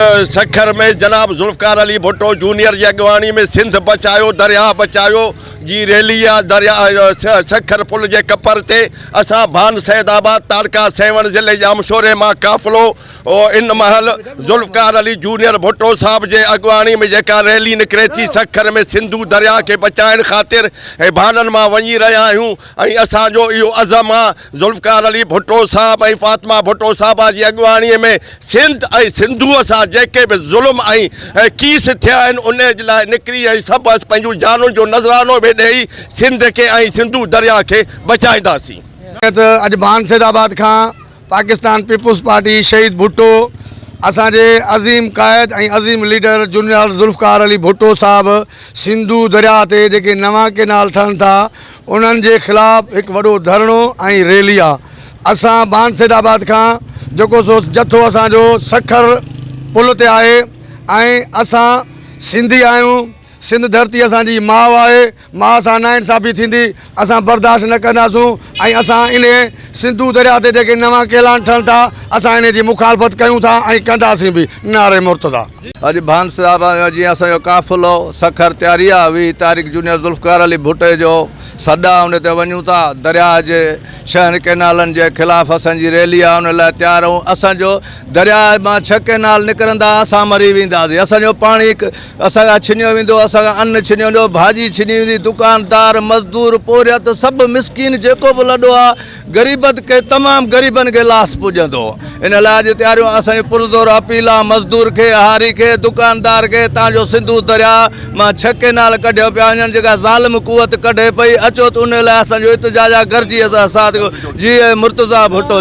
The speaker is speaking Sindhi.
سکر ۾ جناب ذوالفقار علي ڀٽو جونيئر جي اڳواڻي ۾ سنڌ بچايو درياهه بچايو جي ريلي آء درياهه سکر پل جي ڪپر تي اسان ڀان سيد آباد تعلقه سيوهڻ ضلعي ڄامشوري مان قافلو ان مهل ذوالفقار علي جونيئر ڀٽو صاحب جي اڳواڻي ۾ جيڪا ريلي نڪري ٿي سکر ۾ سنڌو درياهه کي بچائڻ خاطر ڀانن مان وڃي رهيا آهيون ۽ اسان جو اهو عزم آ ذوالفقار علي ڀٽو صاحب ۽ فاطمه ڀٽو صاحبه جي اڳواڻي ۾ سنڌ ۽ سنڌوء سان جيڪي به ظلم ۽ ڪيس ٿيا آهن ان جي لاء نڪري ۽ سڀ اسين پنهنجون جانون جو نذرانو به ڏئي سنڌ کي ۽ سنڌو درياهه کي بچائينداسين. جيئن ته اڄ ڀان سيد آباد کان پاڪستان پيپلز پارٽي شهيد ڀٽو اسان جي عظيم قائد ۽ عظيم ليڊر جنرال ذوالفقار علي ڀٽو صاحب سنڌو درياهه تي جيڪي نوان ڪينال ٺهن ٿا انهن جي خلاف هڪ وڏو ڌرڻو ۽ ريلي آ اسان بانسيد آباد کان جيڪو سو جٿو اسان جو سکر پل تي آهي ۽ اسان سنڌي آهيون سنڌ ڌرتي اسان جي ماء آهي ماء سان نا انصافي ٿيندي اسان برداشت نه ڪنداسون ۽ اسان انهي سنڌو دريا تي جيڪي نوان ڪيلان ٺهن ٿا اسان انهي جي مخالفت ڪيون ٿا ۽ ڪنداسين به نعري مرتضيٰ. اڄ ڀانسرا مان جيئن اسان جو قافلو سکر تياري آ وي تاريخ جونيئر ذوالفقار علي ڀٽي جو سڏا ان تي وڃون ٿا درياء جي شهن ڪينالن جي خلاف اسان جي ريلي آ ان لاء تيار اهون اسان جو درياء مان ڇهه ڪينال نڪرندا اسان مري ويندا سي اسان جو پاڻي اسان کان ڇنيو ويندو اسان کان ان ڇنيو ويندو ڀاڄي ڇني ويندي دڪاندار مزدور پورهيت سڀ مسڪين جيڪو به لڏو آ غريبت کي تمام غريبن کي لاس پڄندو ان لاء اڄ تياريون اسان جي پرزور اپيل آ مزدور کي هاري کي دڪاندار کي تان جو سنڌو دريا مان ڇهه ڪينال ڪڍيو پيا وڃن جيڪا ظالم قوت ڪڍي پئي اچو ته ان لاء اسان جو اتجاج آ گرجي اسان ساٿ جيئي مرتضيٰ ڀٽو.